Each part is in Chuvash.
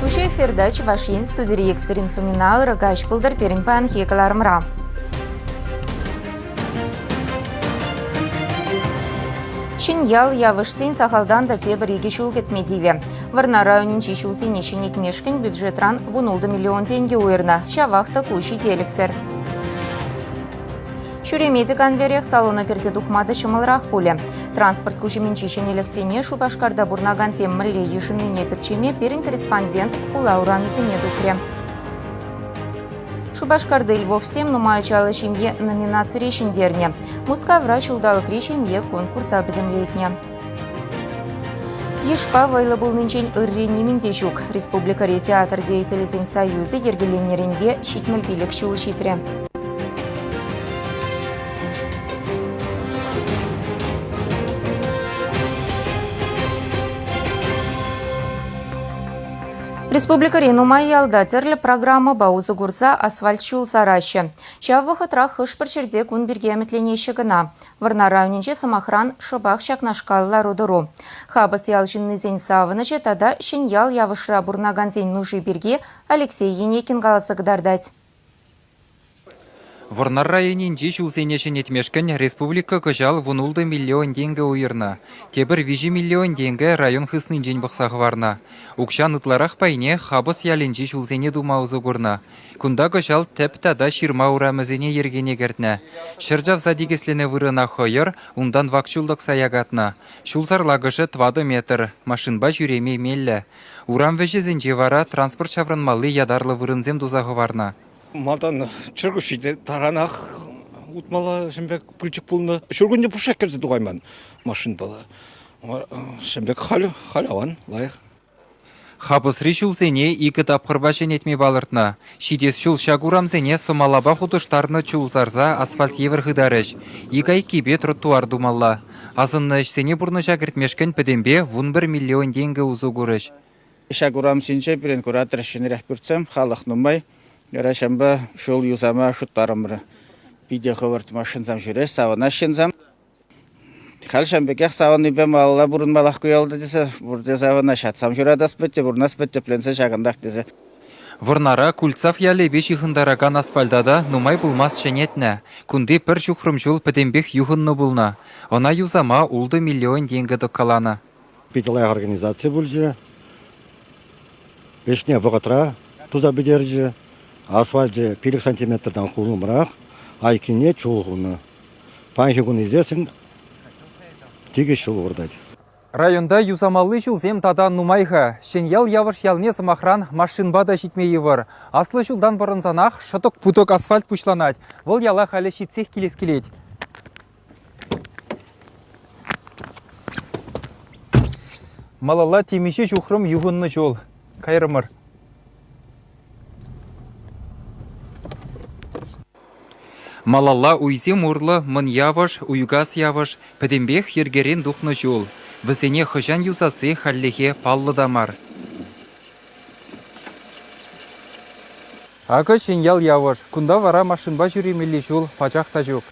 Туҫа эфирта Чӑваш Ен студири екшер инфомина ырӑ каҫ пултӑр пирӗн паянхи кӑларӑмра. Ҫӗньял, Явӑшсен сахалтан та тепӗр икӗ ҫул кӗтме тивӗ. Вӑрнар районӗнчи ҫулсене ҫӗнетмешкӗн бюджетран вун ултӑ миллион тенкӗ уйӑрнӑ. Ҫавах та ку ҫителӗксӗр. Ҫӳреме те канлӗрех, салона кӗрсе тухма та ҫӑмӑлрах пулӗ. Транспорт куҫӑмӗнчи ҫӗнӗлӗхсене Шупашкарта пурӑнакансем мӗнле йышӑннине тӗпчеме пирӗн корреспондент хула урамӗсене тухрӗ. Шупашкарти львовсем нумай ачаллӑ ҫемье номинацире ҫӗнтернӗ. Мускавра ҫулталӑкри ҫемье конкурса пӗтӗмлетнӗ. Йышпа вӑйлӑ пулнинчен ырри нимӗн те ҫук. Республикӑри театр деятелӗсен союзӗ йӗркеленнӗренпе ҫитмӗл пилӗк ҫул ҫитрӗ. Республикӑри нумай ялта тӗрлӗ программӑпа усӑ курса асфальт ҫул сараҫҫӗ. Ҫав вӑхӑтрах хӑш-пӗр ҫӗрте кун пирки ӗмӗтленеҫҫӗ кӑна. Вӑрнар районӗнчи, сӑмахран, шӑпах ҫакнашкал лару-тӑру. Хапӑс ял ҫыннисен савӑнӑҫӗ тата Ҫӗньял Явӑшра пурӑнакансен нуши пирки Алексей Енекин каласа кӑтартать. Вӑрнар районӗнчи ҫулсене ҫӗнетмешкӗн республика кӑҫал вун-ултӑ миллион тенкӗ уйӑрнӑ. Тепӗр виҫӗ миллион тенкӗ район хыснинчен пӑхса хӑварнӑ. Укҫан ытларах пайне Хапӑс ялӗнчи ҫулсене тума усӑ курнӑ. Кунта кӑҫал тӗп тата ҫырма урамӗсене йӗркене кӗртнӗ. Ҫӗр чавса тикӗсленӗ вырӑна хӑйӑр, унтан вак чул тӑкса якатнӑ. Ҫулсӑр лакӑшӗ тӑватӑ метр, машинпа ҫӳреме меллӗ. Урам вӗҫӗсенче вара транспорт ҫаврӑнмалли ятарлӑ вырӑнсем туса хӑварнӑ. Малтан чӗркуҫҫи те таранах утмалла ҫын пек пылчӑк пулнӑ. Ҫуркунне пушшех кӗрсе тухайман машинпала. Ҫын пек халь халь аван лайӑх. Хапӑсри ҫулсене икӗ тапхӑрпа ҫӗнетме палӑртнӑ. Ҫитес ҫул ҫак урамсене сӑмалапа хутӑштарнӑ чул сарса асфальт евӗр хытарӗҫ. Ик айккипе тротуар тумалла. Асӑннӑ ӗҫсене пурнӑҫа кӗртмешкӗн пӗтӗмпе вун пӗр миллион тенкӗ усӑ курӗҫ. Ҫак урам ҫинче пирӗн куратор ҫӗнӗрех пӳртсем, халӑх нумай. Вара ҫавӑнпа ҫул юсама хыттарӑмӑр. Питӗ хӑвӑрт машинсем ҫӳрӗҫ, савӑнаҫ ҫынсем. Халь ҫавӑн пекех савӑннипе малалла пурӑнмаллах ку ялта тесе пурте савӑнаҫҫӗ. ҫуратас пӗтнӗ, пурӑнас пӗтнӗ тӗпленсе ҫакӑнтах тесе. Вӑрнара Кульцав ялӗпе ҫыхӑнтаракан асфальта та нумай пулмасть ҫӗнетнӗ. Кунти пӗр ҫухрӑм ҫул пӗтӗмпех юхӑннӑ пулнӑ. Ӑна юсама ултӑ миллион тенкӗ тӑккаланӑ. Питӗ лайӑх организаци пулчӗ. Ӗҫне вӑхӑтра туса пӗтерчӗ. Асфальчӗ пилӗк сантиметртан хулӑмрах, айккине чул хунӑ. Паянхи кун ӳсессӗн тикӗс ҫул выртать. Районта юсамалли ҫулсем тата нумай-ха. Ҫӗньял Явӑш ялне, сӑмахран, машинпа та ҫитме йывӑр. Аслӑ ҫултан пӑрӑнсанах шӑтӑк-путӑк асфальт пуҫланать. Вӑл яла халӗ ҫитсех килес килет. Малалла темиҫе ҫухрӑм юхӑннӑ ҫул. Кайрӑмӑр. Малалла уйсем урлӑ Мӑн Явӑш, Уйкас Явӑш пӗтӗмпех йӗркерен тухнӑ ҫул. Вӗсене хӑҫан юсасси хальлӗхе паллӑ та мар. Акӑ Ҫӗньял Явӑш. Кунта вара машинпа ҫӳремелли ҫул пачах та ҫук.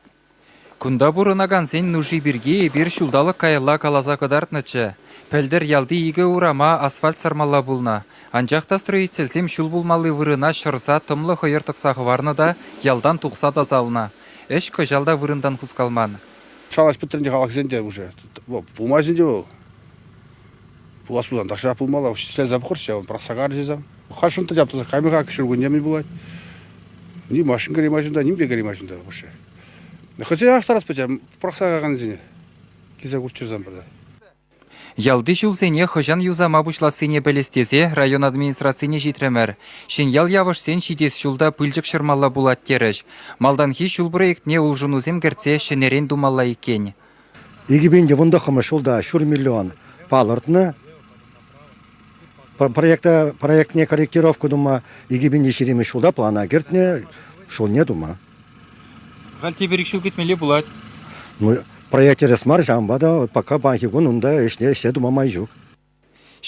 Кунта пурӑнакансен нуши пирки эпир ҫулталӑк каялла каласа кӑтартнӑччӗ. Пӗлтӗр ялти икӗ урама асфальт сармалла пулнӑ, анчах та строительсем ҫул пулмалли вырӑна ҫӑрса тӑмлӑ хӑйӑр тӑкса хӑварнӑ та ялтан тухса тасалнӑ. Ӗҫ кӑҫал та вырӑнтан хускалман. Шалаш пӗтрӗн те халӑхсен те уже. Пулмасть ӗнтӗ вӑл. Пулас пулсан тахҫанах пулмалла. Ҫӗлсе пӑхӑрччӗ, пӑрахса карчӗ сан. Хашӑн та ҫаптӑсӑр каймӗ-ха ҫуркунне мӗн пулать. Ни машин кӗреймӗ ҫунта, нимпе кӗреймӗ ҫунта вообще. Хӑҫан аштарас пӗче пӑрахса кайакансене? Килсе курччӑрсан пӗрде. Ялти ҫулсене хӑҫан юсама пуҫлассине пӗлес тесе район администрацине ҫитрӗмӗр. Ҫӗньял Явӑшсен ҫитес ҫул та пылчӑк ҫӑрмалла пулать терӗҫ. Малтанхи ҫул проектне улшӑнусем кӗртсе ҫӗнӗрен тумалла иккен. Икӗ пин тӑвӑнтӑххӑмӗш ҫулта ҫур миллион палӑртнӑ. Проекта, проектне корректировка тума икӗ пин ҫиремӗш ҫулта плана кӗртнӗ, ҫулне тума. Халь тепӗр ик ҫул кӗтмелле пулать. Ну, проект тӗрӗс мар, ҫавӑнпа та пока паянхи кун унта ӗҫне ӗҫсе тума май ҫук.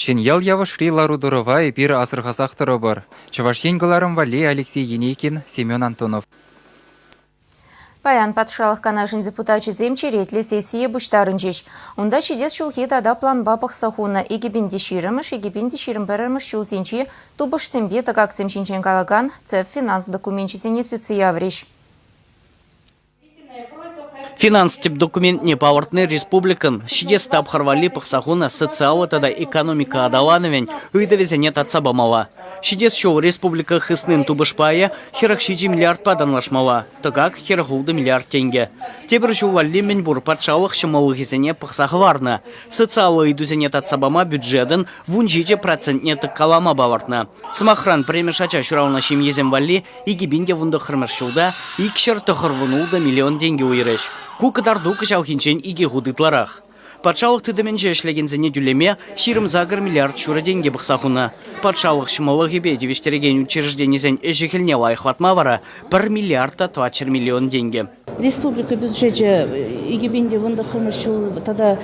Ҫӗньял Явӑшри лару-тӑрӑва эпир асӑрхасах тӑрӑпӑр, Чӑваш Ен кӑларӑм валли Алексей Енейкин, Семен Антонов. Паян Патшалӑх Канашӗн депутачӗсем черетлӗ сессие пуҫтарӑнчӗҫ. Унта ҫитес ҫулхи тата планпа пӑхса хунӑ икӗпин те ҫирӗмӗш, икӗпин те ҫирӗм пӗрремӗш ҫулсенчи тупӑшсемпе тӑкаксем ҫинчен калакан цеф финанс докуменчӗсене сӳтсе яврӗҫ. Финанс тӗп документне палӑртни республикӑн ҫитес тапхӑр валли пӑхса хунӑ социаллӑ тата экономика аталанӑвӗн ыйтӑвӗсене татса памалла. Ҫитес ҫул республика хыснин тупӑш пайӗ хӗрӗх ҫичӗ миллиардпа танлашмалла, тӑкак хӗрӗх ултӑ миллиард тенкӗ. Тепӗр ҫул валли мӗнпур патшалӑх ҫӑмӑллӑхӗсене пӑхса хӑварнӑ, социаллӑ ыйтусене татса пама бюджетӑн вун ҫичӗ процентне тӑккалама палӑртнӑ. Сӑмахран, пӗрремӗш ача ҫуралнӑ ҫемьесем валли Икӗ пин те вунтӑххӑрмӗш ҫулта икҫӗр тӑхӑрвун ултӑ миллион тенкӗ уйӑрӗҫ. Ку кӑтарту кӑҫалхинчен икӗ хут ытларах. Патшалӑх тытӑмӗнче ӗҫлекенсене тӳлеме ҫирӗм-сакӑр миллиард ҫурӑ тенкӗ пӑхса хунӑ. Патшалӑх ҫӑмӑллӑхӗпе тивӗҫтерекен учрежденисен ӗҫӗ-хӗлне лайӑхлатма вара пӗр миллиард та тӑватҫӗр миллион тенкӗ, Республика бюджечӗ икӗ пин те вунтӑххӑмӗш ҫул тата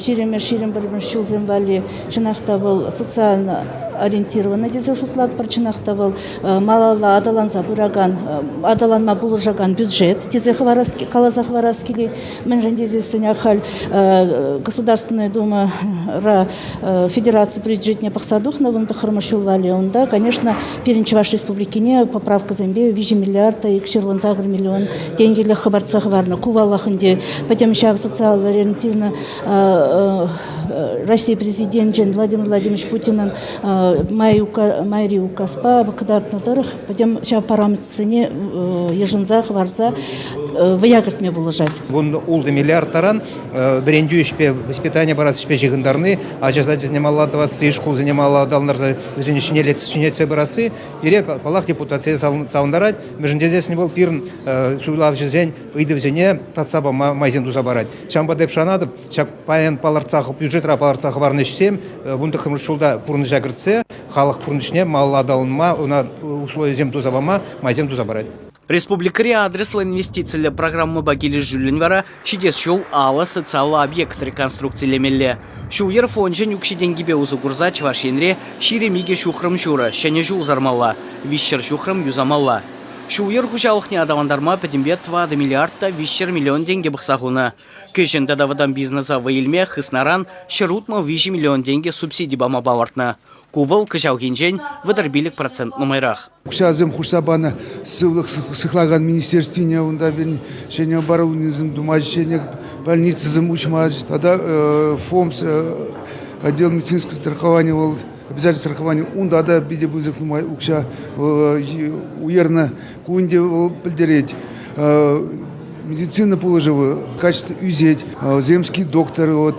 ҫирӗмӗш, ҫирӗм пӗрмӗш ҫулсем валли чӑнах та вӑл социально ориентирована тесе шутлатпӑр. Чӑнах та вӑл малалла аталанса пыракан, аталанма пулӑшакан бюджет тесе хӑварас, каласа хӑварас килет. Мӗншӗн тесессӗн ахаль Государственная Думара федераци бюджетне пӑхса тухнӑ вун тӑххӑрмӗш ҫул валли. Унта, конечно, Пирӗн Чӑваш Республикине поправкӑсемпе виҫӗ миллиард, ҫырлӑн сакӑр миллион тенкӗлӗх хӑпартса хӑварнӑ. Ку паллах ӗнтӗ пӗтӗм ҫав социаллӑ ориентивна Россия Президенчӗн Владимир Владимирович Путинӑн майри указпа кӑтартнӑ тӑрӑх пӗтӗм ҫав параметрсене йышӑнса хӑварса вӑя кӗртме пулӑшать. Вун ултӑ миллиард таран вӗрентӳ ӗҫпе, воспитание парас ӗҫпе ҫыхӑнтарни ача сачӗсене малла тӑвасси, шкулсене малла аталантарса вӗсене ҫӗнетсе пырасси пире, паллах, депутатсене савӑнтарать, мӗншӗн тесен вӑл пирӗн суйлавҫӑсен ыйтӑвӗсене татса пама майсем туса парать. Ҫавӑнпа та эп шанатӑп, ҫак паян палӑртса бюджетра палӑртса хӑварнӑ ӗҫсем вунтӑххӑмӗш ҫулта пурнӑҫа кӗртсе халӑх пурнӑҫне малалла аталанма, ӑна условисем туса пама майсем туса парать. Республикӑри адреслӑ инвестициллӗ программӑпа килӗшӳллӗн вара ҫитес ҫул алӑ социаллӑ объект реконструкцилемелле. Ҫул-йӗр фончӗн укҫи-тенкипе усӑ курса Чӑваш Енре ҫирӗм икӗ ҫухрӑм ҫурӑ ҫӗнӗ ҫул сармалла, виҫҫӗр ҫухрӑм юсамалла. Ҫул-йӗр хуҫалӑхне аталантарма пӗтӗмпе тӑватӑ миллиард та виҫҫӗр миллион тенкӗ пӑхса хунӑ. Кӗҫӗн тата вӑтам бизнеса вӑй илме хыснаран ҫӗр утмӑл виҫӗ миллион тенкӗ субсиди пама палӑртнӑ. Ку вӑл кӑҫалхинчен вӑтӑр пилӗк процент нумайрах. Укҫасем хушса панӑ сывлӑх сыхлакан министерствине унта ҫӗнӗ оборудованисем тума, ҫӗнӗ больницӑсем уҫма тата ФОМС отдел медицинского страхования вӑл обязательство страхования унта та питӗ пысӑк нумай укҫа уйӑрнӑ. Ку ӗнтӗ вӑл пӗлтерет медицина пулӑшӑвӗ качество ӳсет. Земский доктор, вот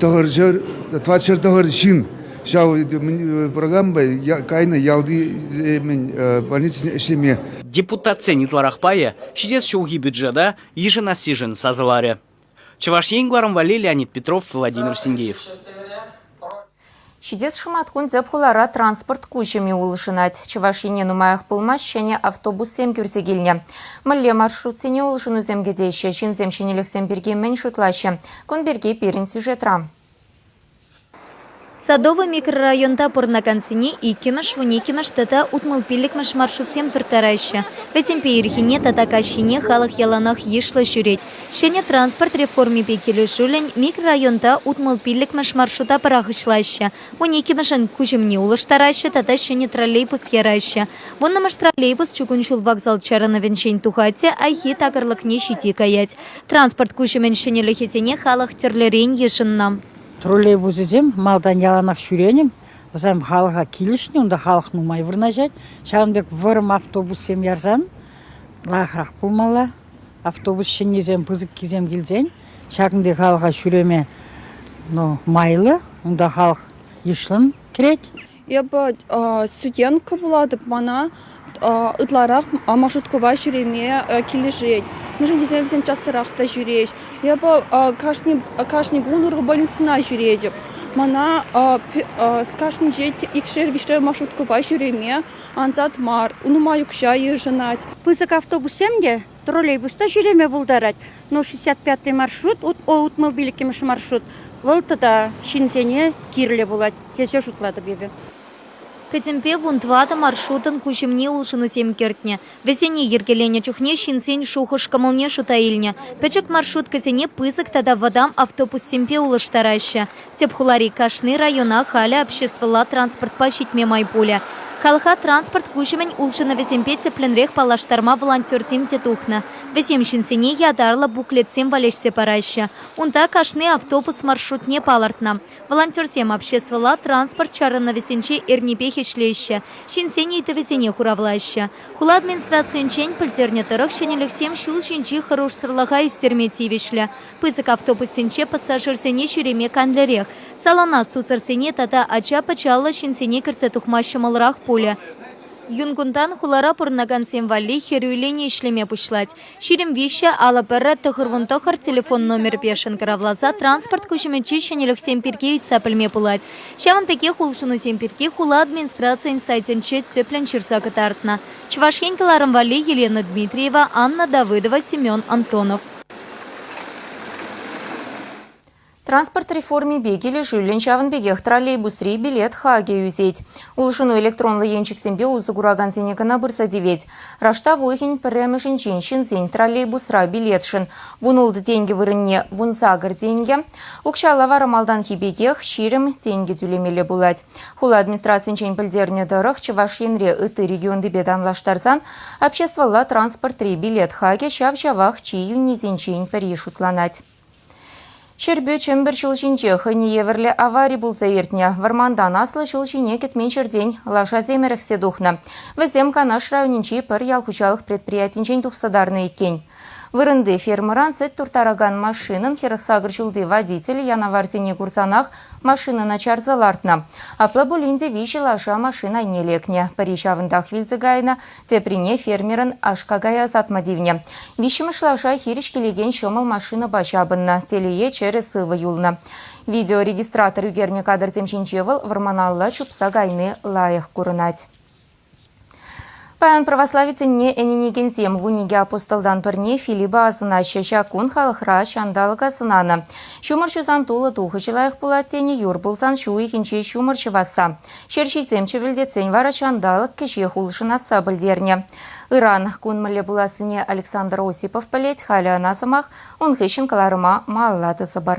тӑхӑр ҫӗр, 20 ҫӗр тӑхӑр ҫын Ҫав программа кайнӑ ялти больницине ӗҫлеме. Депутатсен ытларах пайӗ ҫитес ҫулхи бюджета йышӑнассишӗн сасӑларӗ. Чӑваш Ен гларӑм валли Леонид Петров, Владимир Синдеев. Ҫитес шӑматкун тӗп хулара транспорт куҫӑмӗ улшӑнать. Чӑваш Ене нумаях пулмасть ҫӗнӗ автобуссем кӳрсе килнӗ. Мӗнле маршрутсене улшӑнусем кӗтеҫҫӗ, ҫынсем ҫӗнӗлӗхсем пирки мӗн шутлаҫҫӗ? Кун пирки пирӗн сюжетра. Садовый микрорайонта пурӑнакансене иккӗмӗш, вуниккӗмӗш тата утмӑл пиллӗкмӗш маршрутсем турттараҫҫӗ. Вӗсемпе ирхине тата каҫхине халӑх яланах йышлӑ ҫӳрет. Ҫӗнӗ транспорт реформипе килӗшӳллӗн микрорайонта утмӑл пиллӗкмӗш маршрута пӑрахӑҫлаҫҫӗ, вуниккӗмӗшӗн куҫӑмне улӑштараҫҫӗ тата ҫӗнӗ троллейбус яраҫҫӗ. Вуннӑмӗш троллейбус чукун ҫул вокзал чарӑнӑвӗнчен тухать те хайхи такӑрлӑкне ҫити каять. Транспорт куҫӑмӗн ҫӗнӗлӗхӗсене халӑх тӗрлӗрен йышӑннӑ. Троллейбусӗсем малтан яланах ҫӳренӗ, вӗсем халӑха килӗшнӗ, унта халӑх нумай вырнаҫать. Ҫавӑн пек вӑрӑм автобуссем ярсан лайӑхрах пулмалла. Автобус ҫӗннисем, пысӑккисем килсен ҫакӑнти халӑха ҫӳреме ну, майлӑ, унта халӑх йышлӑн кӗрет. Эпӗ студентка пулатӑп, мана ытларах маршруткӑпа ҫӳреме килӗшет. Мӗншӗн тесен вӗсем частарах та ҫӳреҫ. Эпӗ кашни кун урокбольницӑна ҫӳретӗп. Мана кашнинче икшер-виҫшер маршруткӑпа ҫӳреме ансат мар, нумай укҫа йышӑнать. Пысӑк автобуссем те троллейбуста ҫӳреме пултарать. Но 65 маршрут, утмобиль иккӗмӗш маршрут, вӑл тата ҫынсене кирлӗ пулать, тесе шутлатӑп эпӗ. Пӗтӗмпе вун тӑватӑ маршрутӑн куҫӑмне улшӑнусем кӗртнӗ. Вӗсене йӗркеленӗ чухне ҫынсен шухӑш-кӑмӑлне шута илнӗ. Пӗчӗк маршруткӑсене пысӑк тата вӑтам автобуссемпе улӑштараҫҫӗ. Тӗп хулари кашни района халӗ обществӑлла транспортпа ҫитме май пулӗ. Халӑха транспорт куҫӑмӗн улшӑнӑвӗсемпе тӗплӗнрех паллаштарма волонтерсем те тухнӑ. Вӗсем ҫынсене ятарлӑ буклетсем валеҫсе параҫҫӗ. Унта кашни автобус маршрутне палӑртнӑ. Волонтерсем обществӑлла транспорт чарӑнӑвӗсенче эрнипех ӗҫлеҫҫӗ, ҫынсен ыйтӑвӗсене хуравлаҫҫӗ. Хула администрацийӗнчен пӗлтернӗ тӑрӑх ҫӗнӗлӗхсем ҫул ҫинчи хӑрушсӑрлӑха ӳстерме тивӗҫлӗ. Пысӑк автобуссенче пассажирсене ҫӳреме канлӗрех. Салона сусӑрсене тата ача-пӑчаллӑ ҫынсене кӗрсе тухма ҫӑмӑлрах пулӗ. Юн кунтан хулара пурӑнакансем валли хӗрӳллӗн ӗҫлеме пуҫлать. Ҫирӗм виҫҫӗ алӑ пӗррӗ тӑхӑрвун-тӑхӑр телефон номерпе шӑнкӑравласа транспорт куҫӑмӗнчи ҫӗнӗлӗхсем пирки ыйтса пӗлме пулать. Ҫавӑн пекех улшӑнусем пирки хула администрацийӗн сайтӗнче тӗплӗн ҫырса кӑтартнӑ Чӑваш Ен кӑларӑм валли Елена Дмитриева, Анна Давыдова, Семен Антонов. Транспорт реформипе килӗшӳллӗн ҫавӑн пекех троллейбусри билет хакӗ ӳсет. Улшӑну электронлӑ енчӗксемпе усӑ куракансене кӑна пырса тивет. Раштав пӗрремӗшӗнчен ҫынсен троллейбусра билетшӗн вун ултӑ тенкӗ вырӑнне вун сакӑр тенкӗ, укҫалла вара малтанхи пекех ҫирӗм тенкӗ тӳлемелле пулать. Хула администрацийӗнчен пӗлтернӗ тӑрӑх Чӑваш Енре ытти регионтипе танлаштарсан Обществӑлла транспортри билет хакӗ ҫав-ҫавах чи йӳннисенчен пӗри шутланать. Ҫӗрпӳ Чӗмпӗр ҫул ҫинче хӑйне евӗрлӗ авари пулса иртнӗ. Вӑрмантан аслӑ ҫул ҫине кӗтмен ҫӗртен лашасем ӗрӗхсе тухнӑ. Вӗсем Канаш районӗнчи пӗр ял хуҫалӑх предприятинчен тухса тарнӑ иккен. Вырӑнти фермӑран сӗт турттаракан машинӑн хӗрӗхсакӑр ҫулти водителӗ янаварсене курсанах машинӑна чарса лартнӑ. Апла пулин те виҫӗ лаша машин айне лекнӗ. Пӗри ҫавӑнтах вилсе кайнӑ, теприне фермерӑн аш-какая ӑсатма тивнӗ. Виҫҫӗмӗш лаша хирӗҫ килекен ҫӑмӑл машинӑпа ҫапӑннӑ, телее чӗрӗ сывӑ юлнӑ. Видеорегистратор ӳкернӗ кадрсем ҫинче вӑл вӑрманалла чупса кайни лайӑх курӑнать. Паян православи ӗненекенсем вун икӗ апостолтан пӗрне Филиппа асӑнаҫҫӗ. Ҫак кун халӑхра ҫанталӑка сӑнанӑ. Ҫумӑр ҫусан тулӑ тухӑҫӗ лайӑх пулать тенӗ юр пулсан ҫу уйӑхӗнче ҫумӑр ҫӑвасса. Ҫерҫисем чӗвӗлтетсен вара ҫанталӑк кӗҫех улшӑнасса пӗлтернӗ. Ыран кун мӗнле пулассине Александр Осипов пӗлет, халӗ ӑна сӑмах ун хыҫҫӑн кӑларӑма малла тӑсӑпӑр.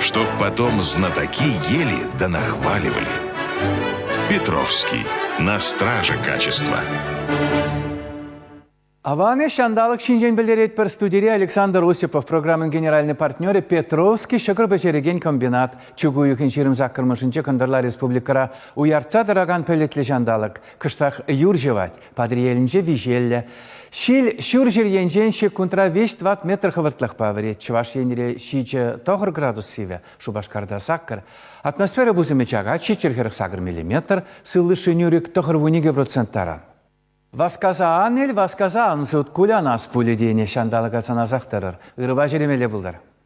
Чтоб потом знатоки ели да нахваливали. Петровский. На страже качества. Аваны ҫанталӑк ҫинчен пӗлтеретпӗр студире Александр Осипов программӑн генеральный партнерӗ Петровский ҫӑкӑр пӗҫерекен комбинат. Чӳк уйӑхӗн ҫирӗм саккӑрмӗшӗнче кӑнтӑрла республикӑра уяртса тӑракан пӗлӗтлӗ ҫанталӑк. Кӑштах юр ҫӑвать. Патӑрьелӗнче виҫеллӗ. Ҫил ҫурҫӗр енчен ҫеккунтра 5-20 метр хӑвӑртлӑхпа вӗрет. Чӑваш Енре ҫичӗ тӑхӑр градус сивӗ, Шупашкарта саккӑр. Атмосфера пусӑмӗ чакать, ҫиччӗр хӗрӗх сакӑр миллиметр, сывлӑшри нӳрӗк тӑхӑр вуникӗ процент таран. Васкаса ан ил, васкаса ан сыт, кулянас пулӗ тенӗ. Ҫанталӑка сӑнасах тӑрӑр, ырӑпа ҫӳремелле пултӑр.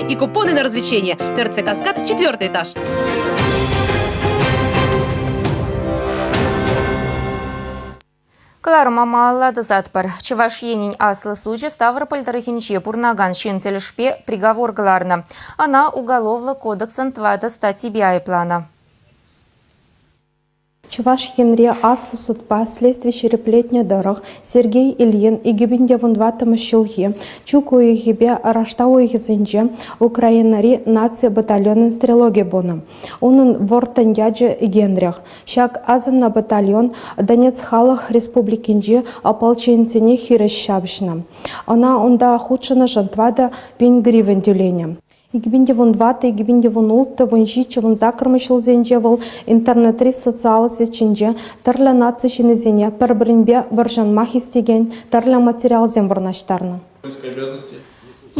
и купоны на развлечения. ТРЦ «Каскад», четвертый этаж. Кӑларӑма малладӑсатпӑр. Чӑваш Енӗн аслӑ сучӗ Ставрополь тӑрӑхӗнче пурӑнакан ҫын тӗлӗшпе приговор кӑларнӑ. Ӑна Уголовлӑ кодексӑн тӑватӑ статйипе айӑпланӑ. Чӑваш Енре аслӑ судпа следстви ҫирӗплетнӗ тӑрӑх Сергей Ильин икӗпин те вунтӑваттӑмӗш ҫулхи чӳк уйӑхӗпе раштав уйӑхӗсенче Украинӑри наци батальонӗн стрелокӗ пулнӑ. Унӑн вӑрттӑн ячӗ Генрих. Ҫак асӑннӑ батальон Донец Халӑх Республикинчи ополченисене хирӗҫ ҫапӑҫнӑ. Ӑна унта хутшӑннӑшӑн тӑватӑ пин гривен тӳленӗ. Икӗпин те вун тӑватӑ, икӗпин те вун улттӑ, вун ҫиччӗ, вун саккӑрмӗш ҫулсенче вӑл интернетри социаллӑ сетьсенче тӗрлӗ наци ҫыннисене пӗр-пӗринпе вӑрҫӑнма хистекен тӗрлӗ материалсем вырнаҫтарнӑ.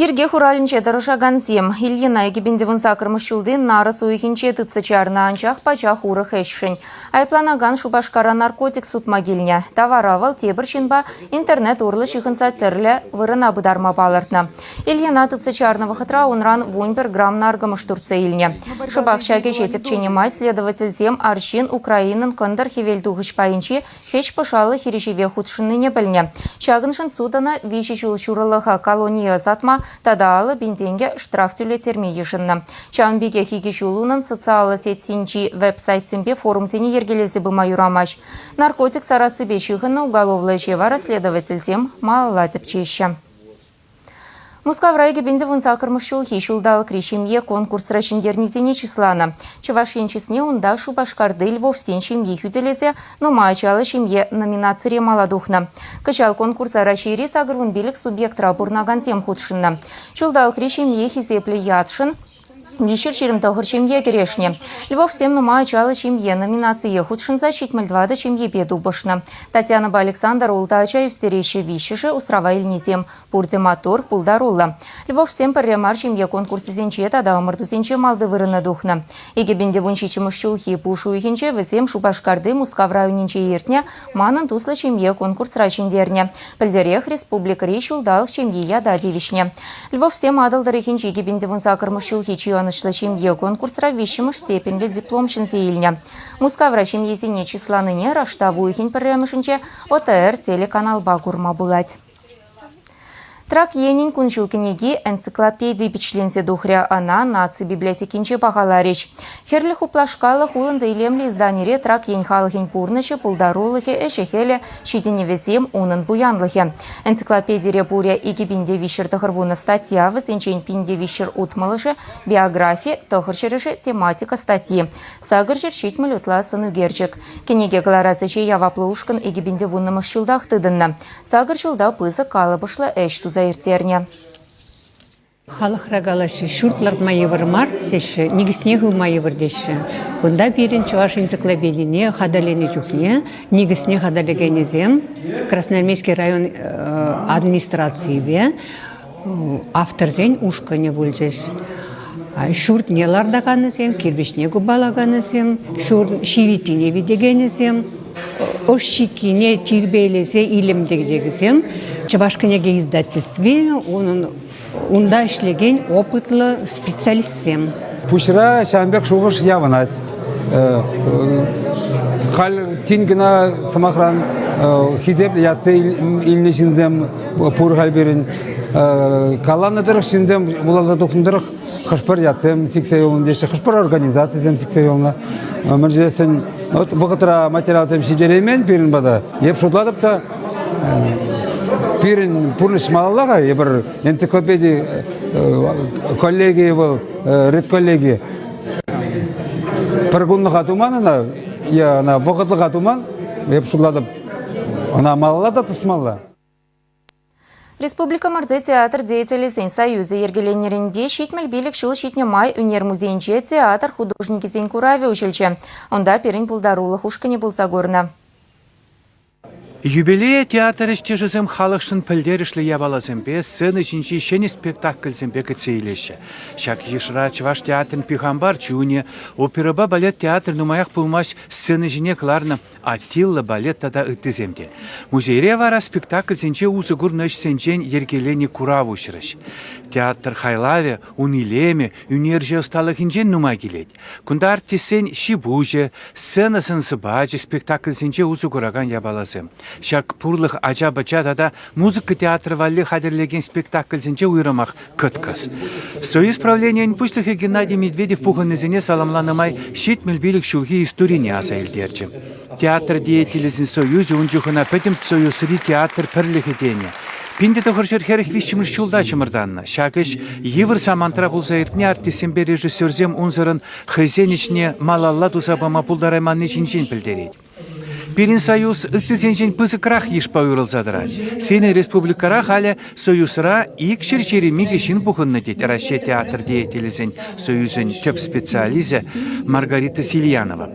Йӗрке хуралӗнче тӑрӑшакансем Ильина икӗпин те вун саккӑрмӗш ҫулти нарӑс уйӑхӗнче тытса чарнӑ, анчах пачах урӑх ӗҫшӗн айӑпланакан Шупашкара наркотик сутма килнӗ. Тавара вӑл тепӗр ҫынпа Интернет урлӑ ҫыхӑнса тӗрлӗ вырӑна пытарма палӑртнӑ. Ильина тытса чарнӑ вӑхӑтра унран вунпер грамм наркӑмӑш туртса илнӗ. Шӑпах ҫак ӗҫе тӗпченӗ май следовательсем арҫын Украинӑн кӑнтӑр-хӗвелтухӑҫ пайӗнчи хӗҫ-пӑшаллӑ хирӗҫӗве хутшӑннине пӗлнӗ. Ҫакӑншӑн суд ӑна виҫӗ ҫул ҫурӑлӑха колоние ӑсатма тата алӑ пин тенкӗ штраф тӳлеттерме йышӑннӑ. Ҫавӑн пекех икӗ ҫул унӑн социаллӑ сетьсенчи веб-сайтсемпе форумсене йӗркелесе пыма юрамасть. Наркотик сарассипе ҫыхӑннӑ уголовлӑ ӗҫе вара следовательсем малалла тӗпчеҫҫӗ. Мускав райкӗпӗнде вун саккӑрмӗш ҫулхи ҫулталӑкри ҫемье конкурсра ҫӗнтернисене чысланӑ. Чӑваш ен чысне унта Шупашкарти Львовсен ҫемйи хӳтӗлесе «Нумай ачаллӑ ҫемье» номинацире мала тухнӑ. Кӑҫал конкурса Раҫҫейри сакӑрвун пилӗк субъектра пурӑнакансем хутшӑннӑ. Ҫулталӑкри ҫемье хисеплӗ ятшӑн Виҫӗ ҫирӗм тӑхӑр ҫемье кӗрешнӗ. Львовсем нумай ачаллӑ ҫемье номинацие хутшӑнса ҫитмӗл тӑватӑ ҫемьепе тупӑшнӑ. Татьянӑпа Александр ултӑ ача ӳстереҫҫӗ, виҫҫӗшӗ усрава илнисем. Пурте маттур, пултаруллӑ. Львовсем пӗрре мар ҫемье конкурсӗсенче тата ӑмӑртусенче малти вырӑна тухнӑ. Икӗпӗнте вун ҫиччӗмӗш ҫулхи пуш уйӑхӗнче вӗсем Шупашкарти Мускав районӗнче иртнӗ Манӑн туслӑ ҫемье конкурсра ҫӗнтернӗ. Пӗлтӗрех республикӑри ҫулталӑк ҫемйи ята тивӗҫнӗ. Львовсем Атӑл тӑрӑхӗнчи кӗпӗнтӗвунсакӑрмӗш ҫулхи чи ӑнӑҫлӑ ҫемье конкурсра виҫҫӗмӗш степеньлӗ диплом ҫӗнсе илнӗ. Мускавра ҫемьесене чысланине раштав уйӑхӗн пӗрремӗшӗнче ОТР телеканалпа курма пулать. Трак Енӗн кун-ҫул кӗнеки энциклопедийӗ пичетленсе тухрӗ. Ӑна наци библиотекинче пахаларӗҫ. Хӗрлӗ хуплашкаллӑх улӑнтӑ илемлӗ изданире Трак Ен халӑхӗн пурнӑҫӗ, пултарулӑхӗ, ӗҫӗ-хӗлӗ, ҫитӗнӗвӗсем, унӑн пуянлӑхӗ. Энциклопедире пурӗ икӗ пин те виҫҫӗр тӑхӑр вунӑ статья, вӗсенчен пин те виҫҫӗр утмӑлӑшӗ биографи, тӑхӑр ҫӗрӗшӗ тематика статьи, сакӑр ҫӗр ҫитмӗл ытла сӑнӳкерчӗк. Кӗнеке кӑларас ӗҫе яваплӑ ушкӑн икӗ пин те вуннӑмӗш ҫултах тытӑннӑ. Сакӑр ҫулта пысӑк калӑпӑшлӑ ӗҫ туса ирттернӗ. Халӑхра калаҫҫӗ, ҫурт лартма йывӑр мар теҫҫӗ, никӗсне хывма йывӑр теҫҫӗ. Кунта пирӗн чӑваш энциклопедине хатӗрленӗ чухне никӗсне хатӗрлекенӗсем Красноармейски район администрацийӗпе Авторсен ушкӑнӗ пулчӗҫ. Ҫуртне лартаканӗсем, кирпӗчне купалаканӗсем, ҫурт ҫивиттине витекенӗсем, ӑш ҫиккине тирпейлесе илем тӗгчекӗсем Чӑваш кӗнеке издательстви унӑн унта ӗҫлекен опытлӑ специалистсем. Пуҫра ҫавӑн пек шухӑш явӑнать. Халь тин кӑна, сӑмахран, хисеплӗ ятсем илнӗ ҫынсем пур халь пирӗн. Каланӑ тӑрӑх ҫынсем вуласа тухнӑ тӑрӑх хӑш-пӗр ятсем сиксе юлнӑ теҫҫӗ, хӑш-пӗр организацисем сиксе юлнӑ. Мӗн тесен вот вӑхӑтра материалсем ҫитереймен пирӗн пата. Эп шутлатӑп та пирӗн пурнӑҫ малалла-ха. Эпир энциклопеди коллегийӗ вӑл, редколлеги. Пӗр кунлӑха туман ӑна, е ӑна вӑхӑтлӑха туман, эп шутлатӑп, ӑна малалла та тӑсмалла. Республикӑмӑрти театр деятелӗсен союзӗ йӗркеленнӗренпе ҫитмӗл пилӗк ҫул ҫитнӗ май ӳнер музейӗнче театр художникӗсен куравӗ уҫӑлчӗ. Унта пирӗн пултарулӑх ушкӑнӗ пулса курнӑ. Юбилее театр ӗҫтешӗсем халӑхшӑн пӗлтерӗшлӗ япаласемпе, сцена ҫинчи ҫӗнӗ спектакльсемпе кӗтсе илеҫҫӗ. Ҫак йышра Чӑваш театрӗн «Пихампар чунӗ», оперӑпа балет театрӗ нумаях пулмасть сцена ҫине кӑларнӑ Аттилла балет тата ыттисем те. Музейре вара спектакльсенче усӑ курнӑ ӗҫсенчен йӗркеленӗ курав уҫрӗҫ. Театр хайлавӗ ун илемӗ, ӳнерҫӗ ӑсталӑхӗнчен нумай килет. Кунта артистсен ҫи-пуҫӗ, сцена сӑн-сӑпачӗ спектакльсенче усӑ куракан япаласем, ҫак пурлӑх ача-пӑча тата музыка театрӗ валли хатӗрлекен спектакльсенче уйрӑмах кӑткӑс. Союз правленийӗн пуҫлӑхӗ Геннадий Медведев пухӑннисене саламланӑ май ҫитмӗл пилӗк ҫулхи историне аса илтерчӗ. Театр деятелӗсен союзӗ ун чухӑна Пӗтӗм Союзри театр пӗрлӗхӗ тенӗ. Пин те тӑхӑр ҫӗр хӗрӗх виҫҫӗмӗш ҫулта чӑмӑртаннӑ. Ҫак ӗҫ йывӑр самантра пулса иртни артистсемпе режиссерсем унсӑрӑн хӑйсен ӗҫне малалла туса пама пултарайманни ҫинчен пӗлтерет. Пирӗн союз ыттисенчен пысӑкрах йышпа уйрӑлса тӑрать. Сирӗн республикӑра халӗ Союзра ик ҫерҫери микӗ ҫын пухӑннӑ, тет Раҫҫей театр деятелӗсен союзӗн тӗп специалисӗ Маргарита Сильянова.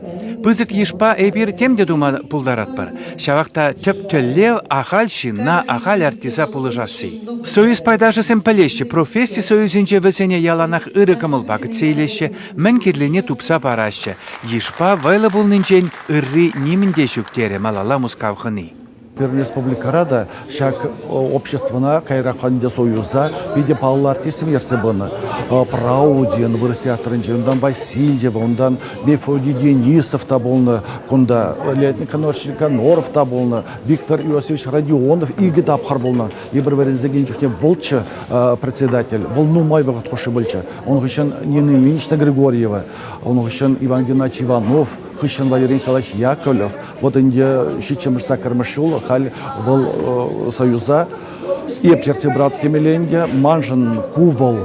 Пысӑк йышпа эпир тем те тума пултаратпӑр. Ҫавах та тӗп тӗллев ахаль ҫынна, ахаль артиста пулӑшасси. Союз пайташӗсем пӗлеҫҫӗ, професси союзӗнче вӗсене яланах ырӑ кӑмӑлпа кӗтсе илеҫҫӗ, мӗн кирлине тупса параҫҫӗ. Йышпа вӑйлӑ пулнинчен ырри нимӗн те ҫук, терӗ малалла Мускав хӑни. Пӗр республикӑра та ҫак обществӑна, каярахпа ӗнтӗ Союза, питӗ паллӑ артистсем ертсе пынӑ. Праудин вырӑс театрӗнче, унтан Васильева, унтан Мефодий Денисов та пулнӑ кунта, Летний Коноров та пулнӑ, Виктор Иосифович Родионов икӗ тапхӑр пулнӑ. Эпир вӗренсекен чухне вӑлччӑ председатель, вӑл нумай вӑхӑт хушши пулчӗ. Ун хыҫҫӑн Нина Ильинична Григорьева, ун хыҫҫӑн Иван Геннадьевич Иванов, хыҫҫӑн Валерий Николаевич Яковлев, Вот ӗнтӗ ҫиччӗмӗш-саккӑрмӗш ҫул халь вӑл союза еплерте брат темелле ӗнтӗ, маншӑн ку вӑл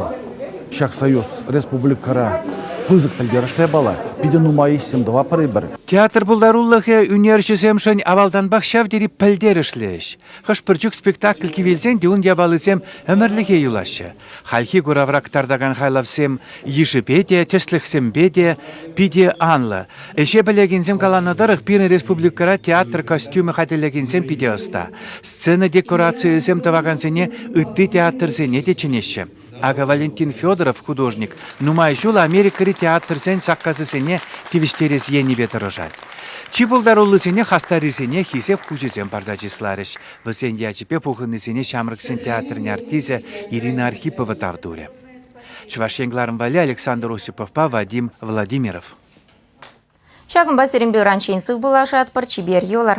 ҫак союз республикӑра пысӑк пӗлтерӗшле пала. Питӗ нумай ӗҫсем тӑваппӑр-и Театр пултарулӑхӗ ӳнерҫӗсемшӗн авалтанпах ҫав тери пӗлтерӗшлӗ ӗҫ. Хӑш-пӗр чух спектакль кивелсен те ун япалисем ӗмӗрлӗхе юлаҫҫӗ. Хальхи куравра кӑтартакан хайлавсем йышӗпе те, тӗслӗхсемпе те питӗ анлӑ. Ӗҫе пӗлекенсем каланӑ тӑрӑх, пирӗн республикӑра театр костюмӗ хатӗрлекенсем питӗ ӑста. Сцена декорацийӗсем тӑвакансене ытти театрсене те чӗнеҫҫӗ. Акӑ Валентин Федоров художник нумай ҫул Америкӑри театрсен саккасӗсене тивӗҫтерес енӗпе тӑрӑшать. Чи пултаруллисене хастаррисене хисеп хучӗсем парса чысларӗҫ, Вӗсен ячӗпе пухӑннисене ҫамрӑксен театрӗн артисӗ Ирина Архипова тав турӗ. Чӑваш Ен кӑларӑм валли Александр Осиповпа Вадим Владимиров. Ҫакӑнпа сирӗнпе ыранччен сыв пулашатпӑр, чипер йӑлӑр!